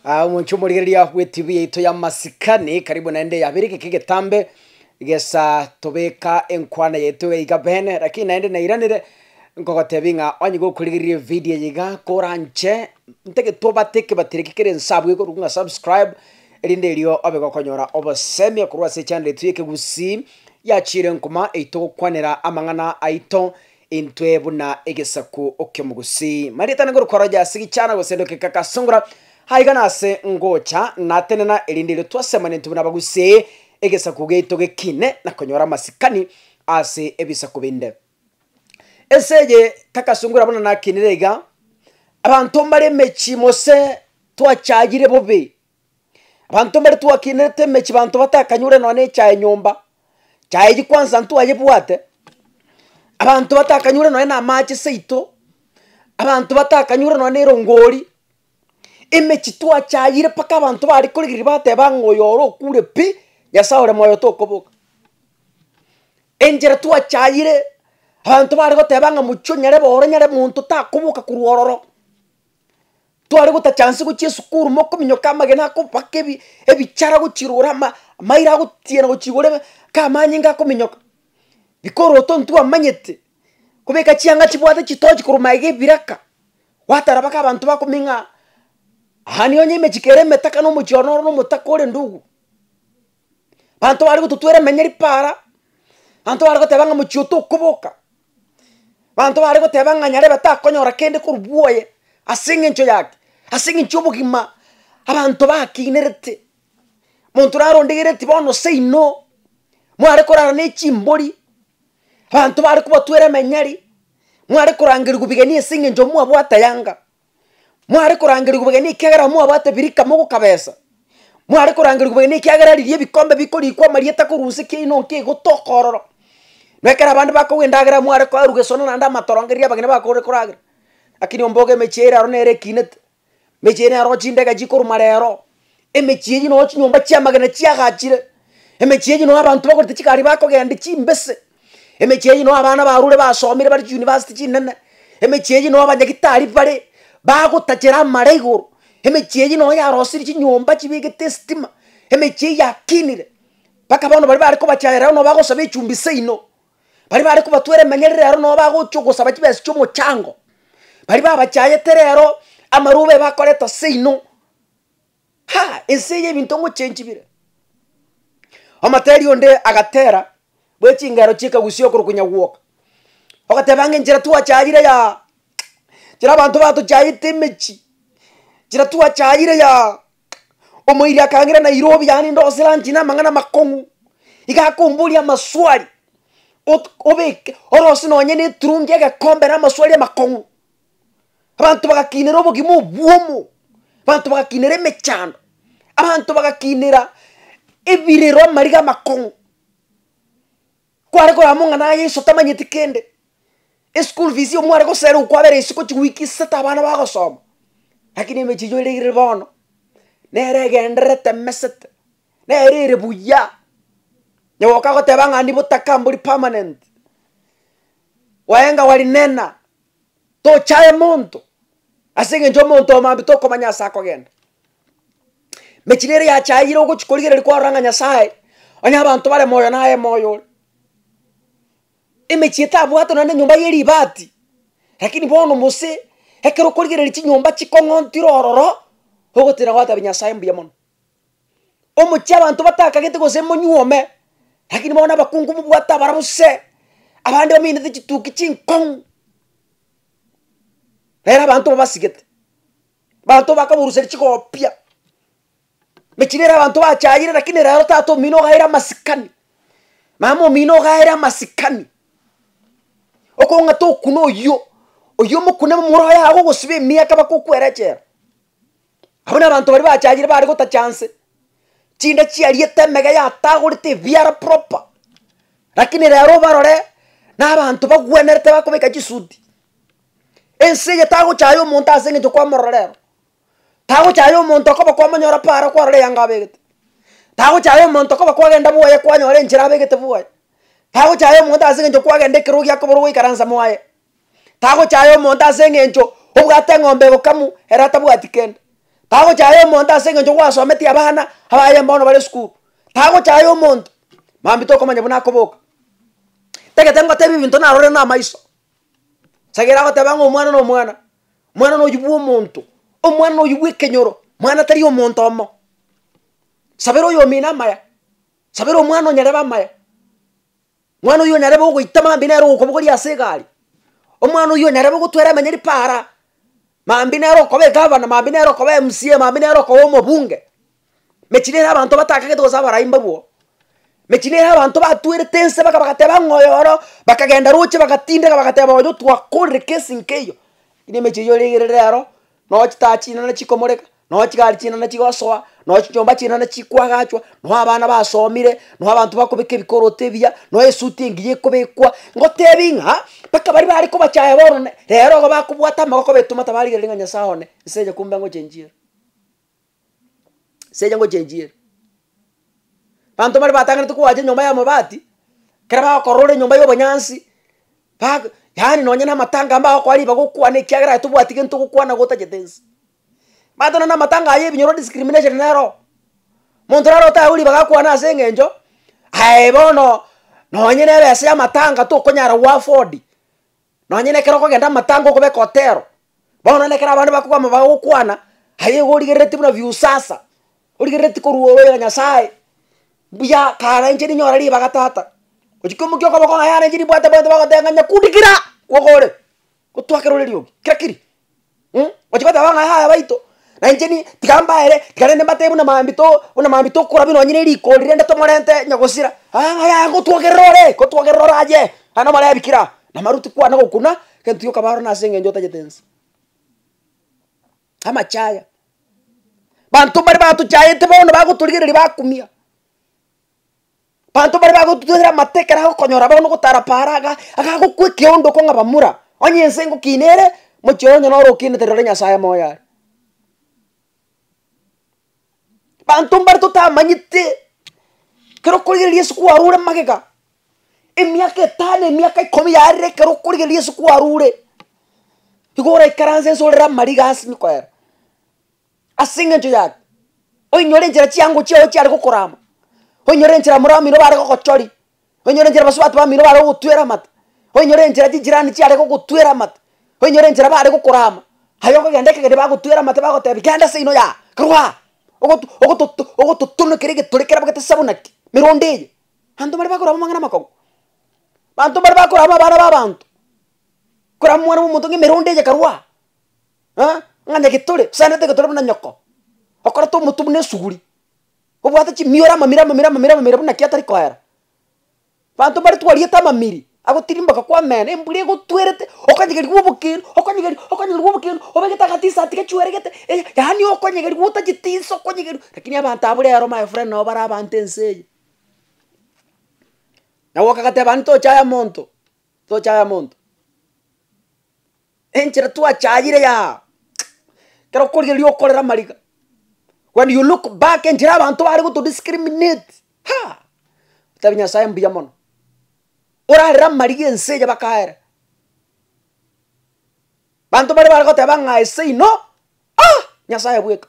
Ah, omonche omorigereria gwetibi yaito ya masikani karibu naende yabere geke getambe gesa tobeka enkwana yaito iga bene lakini naende nairanere nkogotebi ng'a onye gokorigereria evidio eye iga koranche ntege tobate ekebateri eke kere ensabwe iga korwa subscribe erinde erio obe gokonyora obosemi korwa ase echaneri yaito ya ekegusii ya chire nkuma eyi togokwanera amang'ana aito Intwe buna egesaku oki'omogusi. Marieta nigo rukoroja ase gichana gose endoki kagasungura, aiga nase ngocha natenena erinde irio twasemana intwe buna abagusi, egesaku giaito gekine na konyora amasikani ase ebisaku binde. Ense eye kagasungura buna nakinire iga, abanto mbare emechie mose twachayire bobe Abanto mbare twakinete emechie abanto batakanyore nonya na echae nyomba, chae eywo kwansa intwe twayebwate, abanto batakanyore nonya na amache seito, abanto batakanyore nonya na erongori, emechie twachayire mpaka abanto bare korigireria bateba ng'a oyo ore okure pi, nyasaye ore moyo tokoboka. Enchera twachayire, abanto bare goteba ng'a mochie onyarebe ore nyare monto takoboka korwa ororo. Tware gotachansi gochia esukuru mokominyoka amagena akobaka ebi ebichara gochirora ama amaira agotiena gochigora ebe ka amanyinga akominyoka bikoroto ntwe amanyete kobeka chianga chibwate chitochi korwa maega ebiraka gwatara baka abanto bakomeng'a aa. Aania onye emechiko ere emetaka na omochie one ore na omotaka ore ndugu. Banto bare gototwera emenyeri para, banto bare goteba ng'a mochie otokoboka, banto bare goteba ng'a nyarebe takonyora kende korwa bwoye ase eng'encho yake, ase eng'encho y'obogima abanto bakiinerete. Monto naro ondegereti bono seino, mware korara ne chimbori, abanto bare kobatwera emenyeri, mware korangerigwa bigeni ase eng'encho mwabwate yanga. Mware korangerigwa obogeni ekiagera mwabwate birika mogoka besa, mware korangerigwa obogeni ekiagera riria ebikombe bikorikwa amarieta korwa nse ekiaino nki egotoka ororo. Na ekero abande bakogwa endagera mware koeruga esono naende amatoronge riria abageni bakorire koragera. Lakini ombogo emechie ere aro nere ekinete, emechie ere aro chindege chikorwa marero, Emechie eyio noyo chinyomba chi'amagena chiagachire, emechie eyio noyo abanto bakorete chigari bakogenda chimbese, emechie eyio noyo abana barure basomire bare chiyunibasiti chinene, emechie eyio noyo abanyagitari bare bagotachera amare igoro, emechie eyio noyo yarosirie chinyomba chibegete estima, emechie eyio yakinire mpaka bono baria bare kobachayera ero noyo bagosaba echumbi seino, baria bare kobatwera emenyerero ero noyo bagochia ogosaba chibesa chi'omochango, baria babachayete rero amarube bakoreta seino. Ha, ense eye ebinto ngochenji bire. Omoteeri onde agateera bwe chingero chi'ekagusia okorwa konya gwoka, ogateba ng'a enchera twachayire yaa, enchera abanto batochayete emechie, enchera twachayire yaa, omoiri akangera Nairobi yaani ndose lunch na amang'ana amakong'u, iga akomboria amaswali, ot- obeke orose nonye neturungi egekombe na amaswali amakong'u. Abanto bagakinera obogima obwomo, abanto bagakinera emechando, abanto bagakinera ebirero amariga amakong'u, kware korora mong'ana aye enso tamanyeti kende, eschool fees oyo mware gosera oyo kwabera isiko chiweek isasete abana bagosoma, lakini emechi echo ere ire bono, nere egendererete emesete, nere ere buya, nyagoka goteba ng'a nigo otaka mbori permanent, waenga wari nena. Tochaye monto, ase engencho omonto omambia tokomanya ase akogenda. Mechira ere yachayire ogochi korigereria kwarora ng'a Nyasaye, onye abanto bare moyo naye moyo ore. Emechie etabwate nonye na enyomba ye ribati, lakini bono gose ekero okorigereria chinyomba chikong'ontire ororo, ogotira gwatabia Nyasaye mbuya mono. Omochie abanto batakagete gose monyuome, lakini bono abakungu mobwate abarabwo se, abande bamenyete chituki chinkong'u, rero abanto babasigete, abanto bakaboruseria chigopia, mechie nere abanto bachayire lakini rero tata omino ogaire amasikani, mama omino ogaire amasikani, okong'ata okuna oyio, oyio omokune momura oye aagogosiba emiaka bakokwera echela. Abwo nabanto baria bachayire bare gotacha nse, chinde chiariete emege yatagorete ebiara proper, rakini rero obarore nabanto bagwenerete bakobeka chisuti, ense eye tagochaya omonto ase eng'encho kwamorora rero, tagochaya omonto okoba kwamonyora para kwarora eyanga abegete, tagochaya omonto okoba kwagenda bwoye kwanyora enchera abegete bwoye, tagochaya omonto ase eng'encho kwagenda ekerogo giakoborwa goikaransa mwaye. Tagochaya omonto ase eng'encho obwate eng'ombe bokamu ere atabwati kende. Tagochaya omonto ase eng'encho gwasometie abana abaye bono bare esukuru. Tagochaya omonto, mambia tokomanya buna akoboka. Tagete ngotebi ebinto narorire na amaiso. Sagera agoteba ng'a omwana na omwana, omwana na oyio bwa omonto, omwana na oyio bwa ekenyoro, mwana tari omonto omo. Sabera oyomino amaya, sabera omwana onyarebe amaya. Mwana oyio narebe ogoita mambia nere ogokobogoria ase egari. Omwana oyio narebe ogotwera emenyeri paara, mambia nere okoba egavana, mambia nere okoba emcee, mambia nere okoba omobunge. Mechie nere abanto batakagete gose abarai mbabwo. Mechie nere abanto batwerete ense baka bagateba ng'a oyoro, bakagenda roche bagatindeka bagateba oyo twakorire kesi nkeiyo. Lakini emechie eyio ore igere rero, Noo chitaa chinene chikomoreka, noo chigari chinene chigosoa, noo chinyomba chinene chikoagachwa, noo abana basomire, noo abanto bakobeka ebikorooto ebiya, noo esuti engiya ekobekwa. Ngotebi ng'a mpaka baria bare kobachaya bono ne rero igo bakobwata amagoko betoma tabarigereri ng'a Nyasae one, nse enyakumbe angochenchiere. Secha ngochenchiera. Abanto mbare batang'anete koacha enyomba y'amabati, ekero bagokorora enyomba y'obonyansi, bag yaani nonye na amatanga mbagokora ribaga okwane ekiagera aye tobwati gento gokwana gotagete nse. Omanyete nonya na amatanga aye ebinyorwa discrimination neroo, monto naro otagwe ribaga akwane ase eng'encho aye bono nonye nere ase y'amatanga tokonyara goafford Nonye nekero okogenda amatango okobeka otero, bono nekero abande bakokwama bagokwana, aye igo origerereti buna viusasa, origerereti korwa ore ore Nyasaye, mbuya karenche ninyore ribaga tata. Gochia koimokia okoboko ng'a yarenche nibwate bwate bagotenga ng'a nyakundi kira, kwoka ore, gotwakera ore riogi, kira kiri, Mh, ochi goteba ng'a yaya baito, na inche ni tiga mbaere, tiga rende mbatebie buna mambito buna mambito okora buna onye ne rigori rende tomorente onye gosira, aah ng'a yaya ngotwogerera ore, ngotwogerera ore aye, naende omorebi kira namaruti kwane gokuna, egento gioka baro nase eng'encho otagete ense. Amache aya, banto mbare batochaete bono bagotorigereria bakumia. Abanto baria bagotutera amato ekero agokonyora bono ogotara paara iga, agagokwa ekeondo okong'aba mura, onye ense ngokina ere, mochie oye onye noro okinete rore Nyasaye moyo are. Abanto mbare totamanyete, ekero okorigereria Yeso kwarure magega, emiaka etano emiaka ikomi yarire ekero okorigereria Yeso kwarure, igo oraikaranse nse orere amariga ase nkoera. Ase engencho yane, oinyore enchera chiango chiao chiare gokorama, oinyore enchera amore bamino bare gogochori, oinyore enchera abasubati bamino bare gogotwera amate, oinyore enchera chinchirani chiare gogotwera amate, oinyore enchera bare gokorama, aye okogenda ekegeni bagotwera amate bagotebi, Genda ase ino yago, karue aa, ogoto ogototo ogototonokera egetore kerabo gete sabunaki, meronda eye. Abanto bare bakorama amang'ana amakong'u, abanto mbare bakorama abana ba abanto, korama omwana bwa omonto ng'a emeronda eye karue aa. eh, ng'a nyagetore, osanerete getore buna nyoko, okorete omotu buna esuguri, obwate chimioro amamiri amamiri amamiri amamiri buna ki atari koera. Banto mbare twariete amamiri, agotirimboka kwa omena, embura egotwerete, okanyegerigwa obokeri, okanyegeri okanyegerigwa obokeri, obegete agatisati gachweregete, eh, yaani okonyegerigwa otachitiso okonyegeri lakini abanto abwo rero my friend nabo bare abanto ense eye. Naboka agateba naende tochaya monto, tochaya monto. Enchera twachayire eyaa, ekero okorigereria okorera amariga, when you look back enchera abanto bare goto discriminate haa, otebi nyasaye mbuya mono, orarere amariga ense eye bakaere, banto baria bare goteba ng'a ese ino aa, nyasaye bweka.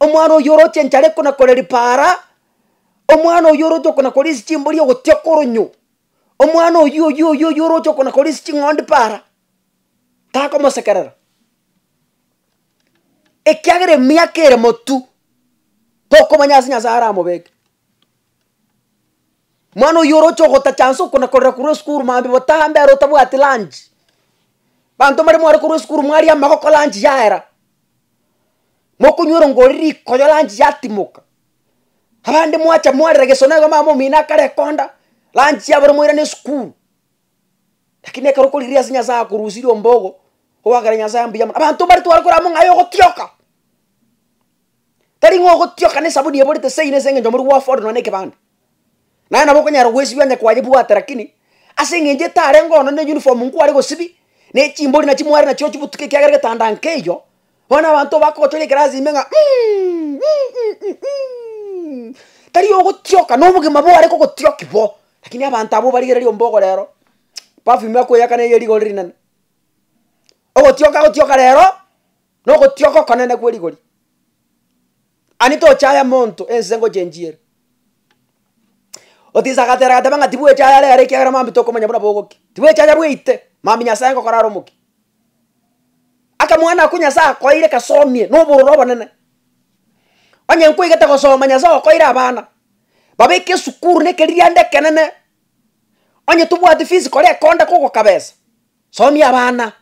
Omwana oyio oroche enchara ekona kore ripaara, omwana oyio oroche okona kore ase chimbori ogotia koronyo, omwana oyio oyio oyio oyio oroche okona kore ase ching'ondi paara, takomosekerera. Ekiagera emiaka ere motu, tokomanya ase Nyasaye aramobeke. Mwana oyio oroche ogotacha nse oko nakorera korwa esukuru mambia botaha ambera otabwati lunch. Banto mbare mware korwa esukuru mwaria amagoko lunch yaera, mokonywera ngori rikoyo lunch yatimoka. Abande mwacha mwarera gesona iga mama omino akare konda, lunch yabora mwairane esukuru. Lakini ekero okorigia ase Nyasaye akorusirie ombogo, ogokera Nyasaye mbuya mono. Abanto mbare tware korama ng'a aye ogotioka. Tari ng'a ogotioka na esabuni eborete seino ase eng'encho omorwe gwafore nonya na ekebande. Naye nabo okonyara goesibia onye kwayebwate lakini ase eng'encho etarenge ono na eyuniform nkware gosibia, na echimbori nachio mware nachio ochibutuke ekiagera egetanda nkeiyo, bono abanto bakogochoria ekerasi ime ng'a um um um tari ogotioka na obogima bware kogotioki bo, lakini abanto abwo barigereria ombogo rero perfume akoyaka na eye rigori rinene. Ogotioka agotioka rero. Nogotioka okonene gwe rigori. Ani tochaya monto ense ngocha enchiere. Otisa agatera agateba ng'a tibwechaya are are ekiagera mambia tokomanya buna bogokia. Tibwechaya bweite, mambia Nyasaye ngokora are omokia. Akamwana ako Nyasaye akoeire kasomie na obororo obonene. Onye nkoigete gosoma Nyasaye okoeire abana, babeke esukuru na ekeririanda ekenene, onye tobwati fees kora ekonda kogoka besa, somia abana.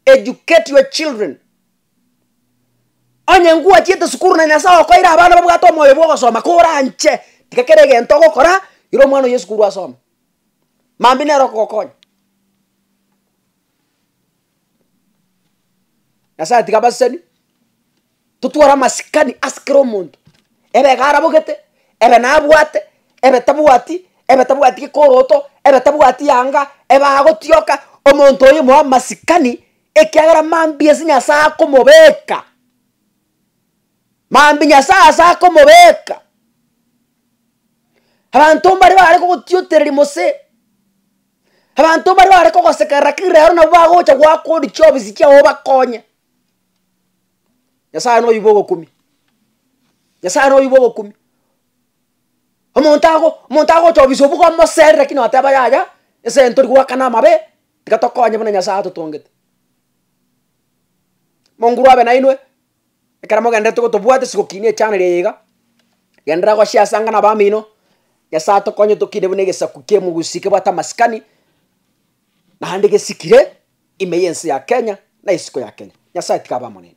Educate your children. Onye ngwachiete sukuru na Nyasae okoeire abana babwate omoyo bw'ogosoma koranche tiga kera egento ogokora ira omwana oye esukuru asome. Mambia nere okogokonya. Nyasae tiga abaseseni. totware amasikani ase kera omonto, ebe iga arabogete, ebe nabwate, ebe tabwati, ebe tabwati gekoroto, ebe tabwati yanga, ebe agotioka, omonto oyio moe amasikani, ekiagera mambia ase nyasae akomobeka, mambia nyasae ase akomobeka. Abanto mbare bare kogotiotereria gose, abanto mbare bare kogosekerera kera ero nabo bagocha goakwa odichie obisi chiago obakonye, Nyasaye noyo bwa ogokumia, Nyasaye noyo bwa ogokumia, omonto ago omonto agochobisa obuya omosere lakini wateba yaya ase ntori goakana amabe, tiga tokonye buna Nyasaye atotongete. Monguru abe nainwe, ekero mogenderete gotobwate ase gokina echaneli eye iga, genderera goshare ase angana abamino, Nyasaye atokonye tokine buna egesaku kia omogusii kebwate amasikani, naende gesikire. Ime y'ense ya Kenya na isiko ya Kenya. Nyasaye tiga abe amo neino.